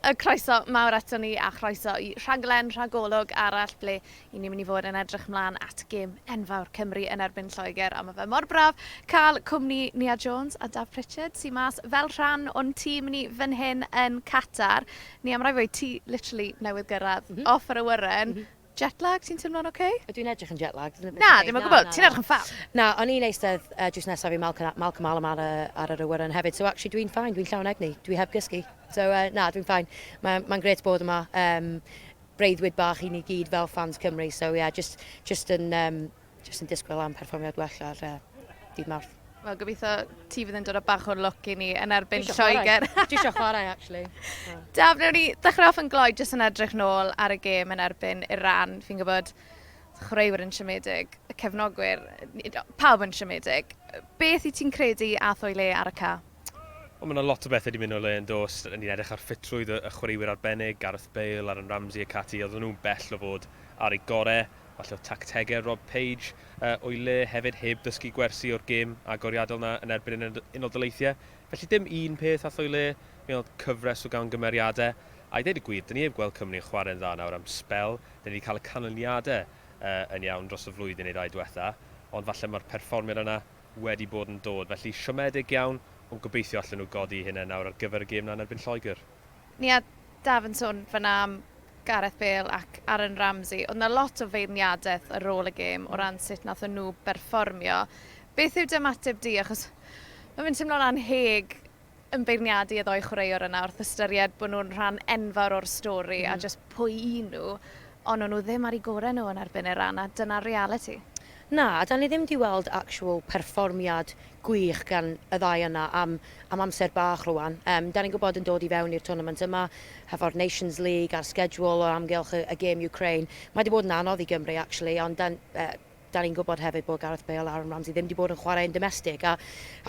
A chroeso mawr aton ni a chroeso i rhaglen rhagolwg arall ble i ni mynd i fod yn edrych mlan at gêm enfawr Cymru yn erbyn Lloegr a ma fe mor braf ca'l cwmni Nia Jones a Daf Pritchard sy mas fel rhan o'n tîm ni fyn hyn yn Qatar. Nia ma rai' weud ti literally newydd gyrradd off yr awyren Jet lag, ti'n teimlo'n ok? Ydw i'n edrych yn jet lagged? Na, ddim yn gwybod, ti'n edrych yn ffab. Na, o'n i'n eistedd uh, just nesaf i Malcolm, Malcolm Allam ar y, ar yr awyren hefyd, so actually dwi'n ffain, dwi'n llawn egni, dwi heb gysgu. So uh, na, dwi'n ffain. Mae'n ma gret bod yma. Um, breuddwyd bach i ni gyd fel fans Cymru, so yeah, just, just yn um, Jyst yn disgwyl am perfformiad gwella lle dydd Mawrth. Wel, gobeithio ti fydd yn dod o bach o'r look i ni yn erbyn Lloegr. Dwi eisiau chwarae, actually. Daf, wnawn ni ddechrau off yn gloi jyst yn edrych nôl ar y gêm yn erbyn Iran. Fi'n gwybod chwaraewyr yn siomedig, y cefnogwyr, pawb yn siomedig. Beth i ti'n credu a thwy le ar y ca? Wel, mae yna lot o bethau wedi mynd o le yn dos. Ni'n edrych ar ffitrwydd y chwaraewyr arbennig, Gareth Bale, Aaron Ramsey ac ati. Oedden nhw'n bell o fod ar eu gorau. Falle oedd tactegau Rob Page o'i le hefyd heb ddysgu gwersi o'r gêm agoriadol 'na yn erbyn yr Unol Daleithiau. Felly dim un peth ath o'i le, mi oedd cyfres o gamgymeriadau, a i ddeud y gwir, 'da ni heb gweld Cymru yn chwarae'n dda nawr am sbel, 'da ni 'di cael y canlyniadau yn iawn dros y flwyddyn neu ddau diwetha', ond falle mae'r perfformiad yna wedi bod yn dod. Felly siomedig iawn, ond gobeithio allen nhw godi'u hunain nawr ar gyfer y gêm 'na yn erbyn Lloegr. Nia Daf yn sôn fan'na am Gareth Bale ac Aaron Ramsey. Oedd 'na lot o feirniadaeth ar ôl y gêm o ran sut nathon nhw berfformio. Beth yw dy ymateb di? Achos ma' fe'n timlo'n anheg yn beirniadu y ddou chwaraewr yna wrth ystyried bod nhw'n rhan enfawr o'r stori a jyst pwy 'yn nhw, ond o'n nhw ddim ar 'u gore' nhw yn erbyn Iran a dyna'r realiti. Na, 'dan ni ddim 'di weld actual perfformiad gwych gan y ddau yna am am amser bach rŵan. Yym, 'dan ni'n gwybod yn dod i fewn i'r twrnament yma, hefo'r Nations League a'r schedule o amgylch y y gêm Ukraine, mae 'di bod yn anodd i Gymru actually, ond 'dan yy 'dan ni'n gwybod hefyd bod Gareth Bale a Aaron Ramsey ddim 'di bod yn chwarae yn domestig, a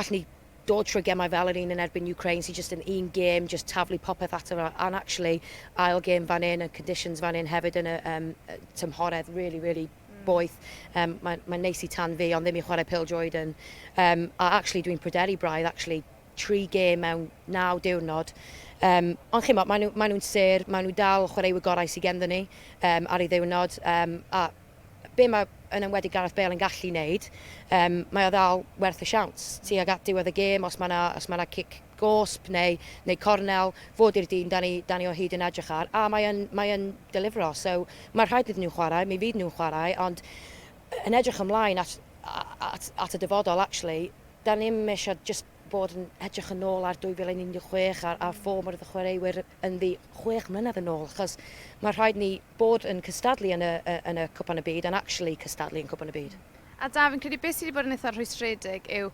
allwn ni dod trwy gemau fel yr un yn erbyn Ukraine sy jyst yn un gêm, jyst taflu popeth ato fo, a'n actually ail gêm fan 'yn, y conditions fan 'yn hefyd yn y yym y tymhoredd rili rili boeth. Yym mae'n mae'n neis i tan fi ond ddim i chwarae pêl-droed yn yym a actually dwi'n pryderu braidd actually tri gêm mewn naw diwrnod. Um, ond chimo, maen nhw, maen nhw'n ser, maen nhw dal chwaraewyr gorau sydd genddo ni um, ar ei ddiwrnod. Um, a be mae yn enwedig Gareth Bale yn gallu wneud, um, mae o ddal werth y siawns. Ti ag at diwedd y gêm, os mae yna ma cic gosb neu neu cornel fod i'r dyn dan ni dan ni o hyd yn edrych ar a mae yn mae yn delifro so mae rhaid iddyn nhw chwarae mi fydd nhw'n chwarae ond yn edrych ymlaen at at at y dyfodol actually dan ni ddim eisiau just bod yn edrych yn ôl ar 2016 a'r a'r ffom o'r chwaraewyr yn ddi chwech mlynedd yn ôl achos mae rhaid ni bod yn cystadlu yn y yn y cwpan y byd and actually cystadlu yn cwpan y byd. A Daf, fi'n credu beth sydd wedi bod yn eitha rhwystredig yw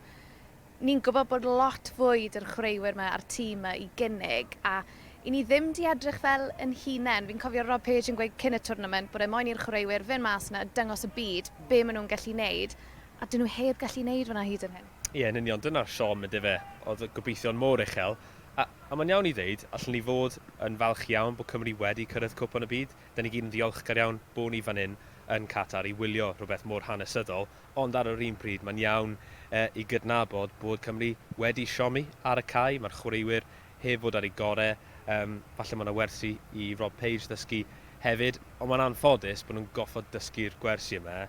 Ni'n gwybod bod lot fwyd yr chwaraewyr yma a'r tîm yma i gynnig a i ni ddim di edrych fel yn hunen. Fi'n cofio Rob Page yn gweud cyn y twrnament bod e moyn i'r chwaraewyr fyn mas yna a dyngos y byd be ma nhw'n gallu neud a dyn nhw heb gallu neud fynna hyd yn hyn. Ie yn union, dyna'r siom yndyfe, oedd y gobeithion mor uchel a a mae'n iawn i ddeud, allen ni fod yn falch iawn bod Cymru wedi cyrraedd Cwpan y Byd, dan ni gyd yn ddiolchgar iawn bo ni fan hyn yn Qatar i wylio rhywbeth mor hanesyddol, Ond ar yr un pryd, mae'n iawn i gydnabod bod Cymru wedi siomi ar y cae. Mae'r chwaraewyr heb fod ar eu gorau. Falle mae yna wersi i Rob Page ddysgu hefyd, ond mae'n anffodus bod nhw'n goffod dysgu'r gwersi yma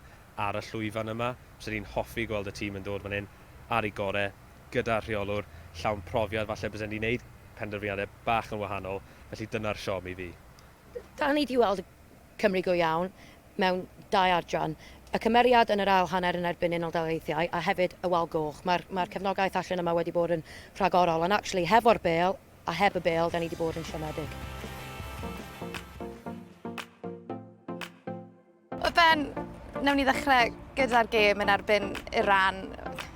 ar y llwyfan yma. Fyswn i'n hoffi gweld y tîm yn dod fan hyn ar eu gorau, gyda rheolwr llawn profiad. Falle bysen ni'n wneud penderfyniadau bach yn wahanol, felly dyna'r siom i fi. Da ni 'di weld Cymru go iawn mewn dau adran. Y cymeriad yn yr ail hanner yn erbyn Unol Daleithiau a hefyd y wal goch. Mae'r mae'r cefnogaeth allan yma wedi bod yn rhagorol ond actually hefo'r bêl a heb y bêl da ni 'di bod yn siomedig. O Ben, newn ni ddechrau gyda'r gêm yn erbyn Iran.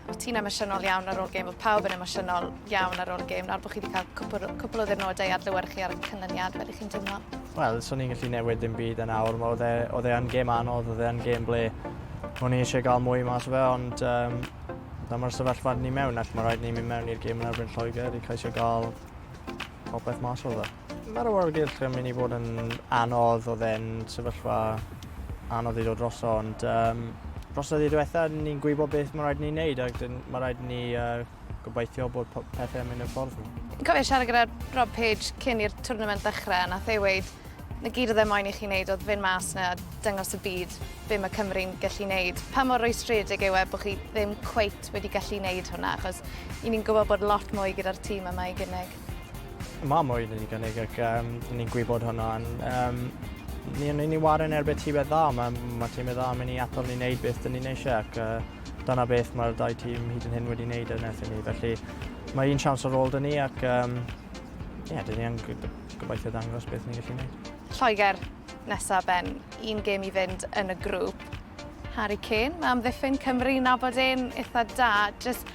O ti'n emosiynol iawn ar ôl gêm, oedd pawb yn emosiynol iawn ar ôl gêm, nawr bod chi wedi cael cwpl, cwpl o ddyrnodau ar lywer chi ar y cynlyniad, beth ych chi'n teimlo? Wel, so ni'n gallu newid dim byd yn awr, oedd e, oedd e yn gêm anodd, oedd e yn gêm ble o'n i eisiau gael mwy mas o fe, ond um, dyma'r sefyllfa ni mewn ac mae rhaid ni mynd mewn i'r gêm yn erbyn Lloegr i ceisio gael popeth mas o fe. Mae'r awyrgylch yn mynd i fod yn anodd, oedd e'n sefyllfa anodd i ddod dros o, ond um, dros y ddiwetha, ni'n gwybod beth mae rhaid ni'n neud, ac mae rhaid ni uh, gobeithio bod pethau'n mynd yn ffordd ni. Cofio siarad gyda Rob Page cyn i'r twrnament ddechrau, a nath ei weid, 'na gyd oedd e moyn i chi wneud oedd fynd mas 'na a dangos y byd be mae Cymru'n gallu wneud. Pa mor rwystredig yw e bod chi ddim cweit wedi gallu wneud hwnna, achos i ni'n gwybod bod lot mwy gyda'r tîm yma i gynnig. Mae mwy wedi gynnig ac um, ni'n gwybod hwnna. Um, ni'n ni, ni warin erbyn tîmau dda, mae, ma tîmau dda mynd i atal ni wneud beth dyn ni'n eisiau ac uh, dyna beth mae'r dau tîm hyd yn hyn wedi wneud yn eithaf ni. Felly mae un siawns ar ôl dyn ni ac um, yeah, dyn ni yn Gobeithio dangos beth ni'n gallu neud. Lloegr nesa Ben, un gêm i fynd yn y grŵp. Harry Kane, mae amddiffyn Cymru nabod e'n eitha da, jyst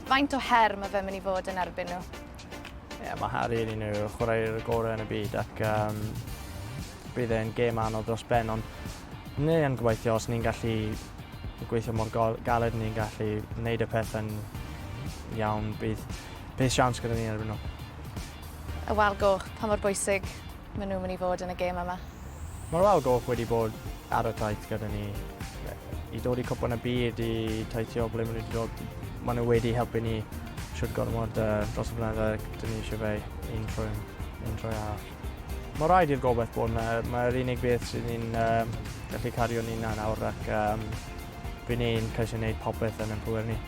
faint o her mae fe mynd i fod yn erbyn nhw? Ie, yeah, mae Harry yn un o'r chwaraewyr gorau yn y byd ac um, bydd e'n gêm anodd dros ben, ond ni yn gobeithio os ni'n gallu gweithio mor galed ni'n gallu wneud y pethau'n iawn, bydd, bydd siawns gyda ni erbyn nhw. Y wal goch, pa mor bwysig maen nhw'n mynd i fod yn y gêm yma? Mae'r wal goch wedi bod ar y taith gyda ni i dod i cwpan y byd, i taithio ble maen nhw wedi dod. Maen nhw wedi helpu ni siwt gormod uh, dros y blynyddoedd, dyn ni eisiau fe un trwy, un trwy arall. Mae rhaid i'r gobeith bod yna. Mae'r unig beth sydd ni'n um, gallu cario ni'n nawr ac um, fy ni'n ceisio gwneud popeth yn ein pwer ni.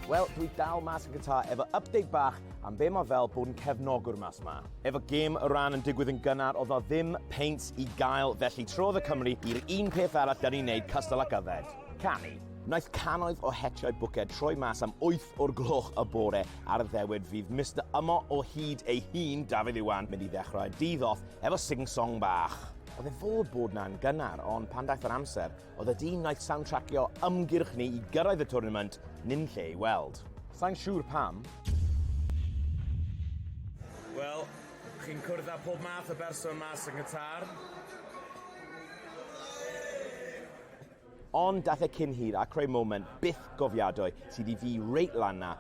Wel, dwi dal mas yn gyntaf efo update bach Am be mae fel bod yn cefnogwr mas ma? Efo gêm y ran yn digwydd yn gynnar, oedd o ddim peint i gael, felly trodd y Cymru i'r un peth arall da ni'n neud cystal ac yfed, canu. Naeth cannoedd o hetiau bwced troi mas am 8 o'r gloch y bore ar y ddewyd fydd Mister Ymo o hyd ei hun, Dafydd Iwan, mynd i ddechrau dydd off efo sing-song bach. Oedd e fod bod 'na'n gynnar, ond pan daeth yr amser, Oedd y dyn wnaeth soundtrackio ymgyrch ni i gyrraedd y twrnament ddim lle ei weld. Sai'n siŵr pam. Wel, chi'n cwrdd â pob math o berson mas yng Nghatar. Ond daeth e cyn hir a creu moment byth gofiadwy sydd i fi reit lan 'na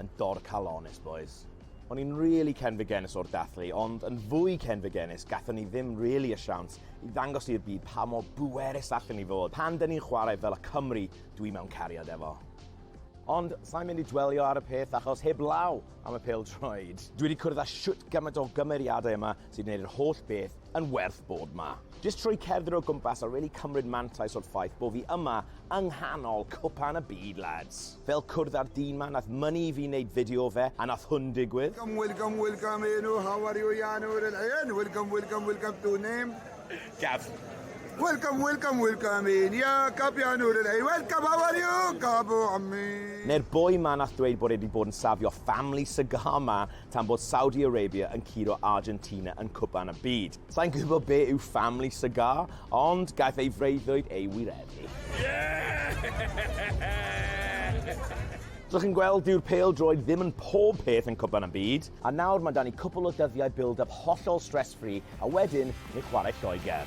Yn dor calon onest bois. O'n i'n really cenfigennus o'r dathlu, ond yn fwy cenfigennus gathon ni ddim really y siawns i ddangos i'r byd pa mor bwerus allen ni fod pan dyn ni'n chwarae fel y Cymry dwi mewn cariad efo. Ond sai'n mynd i dwelio ar y peth achos heb law am y pêl-droed. Dwi 'di cwrdd â shwt gymaint o gymeriadau yma sy'n gwneud yr holl beth yn werth bod 'ma. Jyst trwy cerdded o gwmpas a rili cymryd mantais o'r ffaith bo fi yma yng nghanol cwpan y byd lads. Fel cwrdd â'r dyn 'ma nath mynnu i fi neud fideo o fe a nath hwn digwydd. Welcome welcome welcome Enw how are you ya Noor El Ain welcome welcome welcome to name Gav Welcome welcome welcome in ya Gab ya Noor El Ain welcome how are you Gabu ammi Ne'r boi 'ma nath dweud bod e 'di bod yn safio family cigar 'ma tan bod Saudi Arabia yn curo Argentina yn Cwpan y Byd. Sa'n gwybod be yw family cigar, ond gaeth ei freuddwyd ei wireddu. Dych chi'n gweld, dyw'r pêl droed ddim yn pob peth yn Cwpan y Byd. A nawr mae dan i cwpl o dyddiau build-up hollol stress-free, a wedyn ni chwarae Lloegr.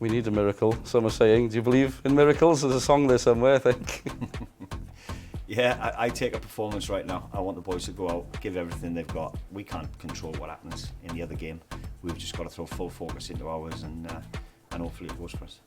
We need a miracle, some are saying. Do you believe in miracles? There's a song there somewhere, I think. yeah, I, I, take a performance right now. I want the boys to go out, give everything they've got. We can't control what happens in the other game. We've just got to throw full focus into ours and, uh, and hopefully it goes for us.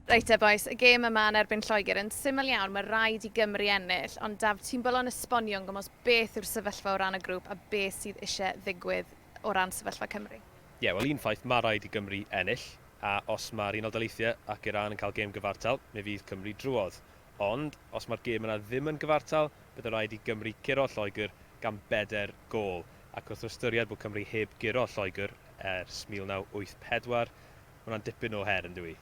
Reit e boes, y gêm yma yn erbyn Lloegr yn syml iawn, mae rhaid i Gymru ennill, ond daf ti'n bol o'n esbonio yn gymwys beth yw'r sefyllfa o ran y grŵp a beth sydd eisiau ddigwydd o ran sefyllfa Cymru? Ie, wel un ffaith, ma' raid i Gymru ennill, a os ma'r Unol Daleithiau ac Iran yn cael gêm gyfartal, mi fydd Cymru drwodd. Ond, os ma'r gêm yna ddim yn gyfartal, bydd yn rhaid i Gymru guro Lloegr gan bedair gôl, ac wrth ystyried bod Cymru heb guro Lloegr ers 1984, ma' hwnna'n dipyn o her, yndyw 'i?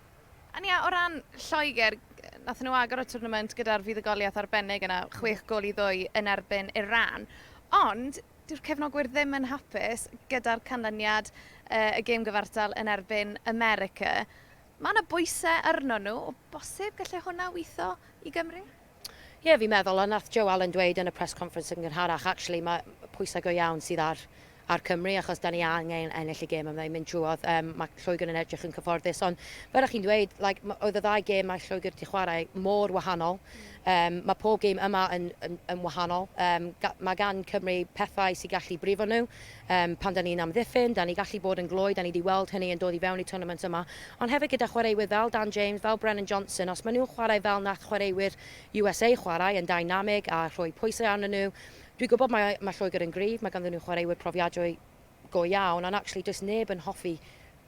Ond ie, o ran Lloegr, nathon nhw agor y twrnament gyda'r fuddugoliaeth arbennig yna, chwech gôl i ddwy yn erbyn Iran. Ond, Dyw'r cefnogwyr ddim yn hapus gyda'r canlyniad y gêm gyfartal yn erbyn America. Mae yna bwysau arno nhw, o bosib gallai hwnna witho i Gymru? Ie, fi'n meddwl, a nath Joe Allen dweud yn y press conference yn gynharach, actually mae pwysau go iawn sydd ar ar Cymru achos da ni angen ennill y gêm yma i mynd trwodd. Um, mae Lloegr yn edrych yn cyfforddus, ond fel ych chi'n dweud, like, oedd y ddau gêm mae Lloegr wedi chwarae mor wahanol. Yym, mae pob gêm yma yn, yn, yn wahanol. Yym, ga- mae gan Cymru pethau sy'n gallu brifo nhw. Yym, pan da ni'n amddiffyn, da ni gallu bod yn gloi, da ni 'di weld hynny yn dod i fewn i'r twrnament yma. Ond hefyd gyda chwaraewyr fel Dan James, fel Brennan Johnson, os maen nhw'n chwarae fel nath chwaraewyr USA chwarae, yn dynamig a rhoi pwysau arnyn nhw, dwi'n gwybod mae, mae Lloegr yn gryf, mae ganddyn nhw chwaraewyr profiadwy, go iawn and actually does neb yn hoffi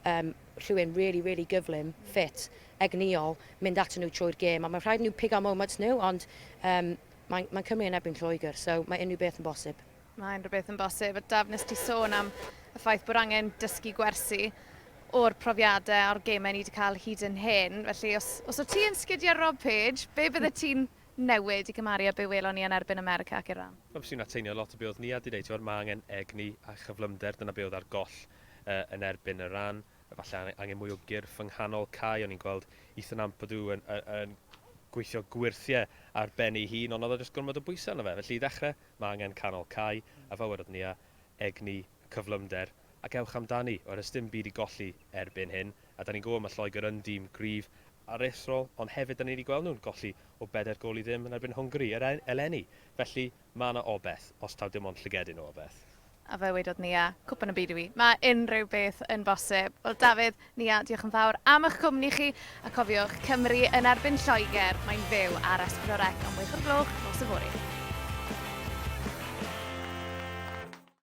yym rhywun really really gyflym, ffit, egnïol, mynd atyn nhw trwy'r gêm a mae'n rhaid i nhw pigo moments nhw ond yym mae mae Cymru yn erbyn Lloegr so mae unrhyw beth yn bosib. Mae unrhyw beth yn bosib a Daf nes ti sôn am y ffaith bod angen dysgu gwersi o'r profiadau a'r gemau ni wedi cael hyd yn hyn felly os os o't ti yn sgidio Rob Page be bydde ti'n newid i gymaru â be welon ni yn erbyn America ac Iran? Wel, fyswn i'n atseinio lot o be oedd Nia 'di deud, tibod, ma' angen egni a chyflymder, dyna be oedd ar goll yn erbyn Iran, falle angen mwy o gyrff yng nghanol cae, o'n i'n gweld Ethan Ampadu yn yn gweithio gwyrthie ar ben ei hun, ond oedd o jyst gormod o bwysau arno fe, felly i ddechrau, ma' angen canol cae, a fel wedodd Nia, egni, cyflymder, ac ewch amdani, oes 'na sdim byd i golli erbyn hyn, a 'dan ni'n gwybod ma' Lloegr yn dîm gryf, aruthrol, ond hefyd 'dan ni 'di gweld nhw'n golli o bedair gôl i ddim yn erbyn Hwngari yr e- eleni, felly ma' 'na obeth, os taw dim ond llygedyn o obeth. A fe wedodd Nia, Cwpan y Byd i fi, mae unrhyw beth yn bosib. Wel, Dafydd, Nia, diolch yn fawr am eich cwmni chi, a cofiwch, Cymru yn erbyn Lloegr, mae'n fyw ar Espro Rec am wech o'r gloch nos yfory.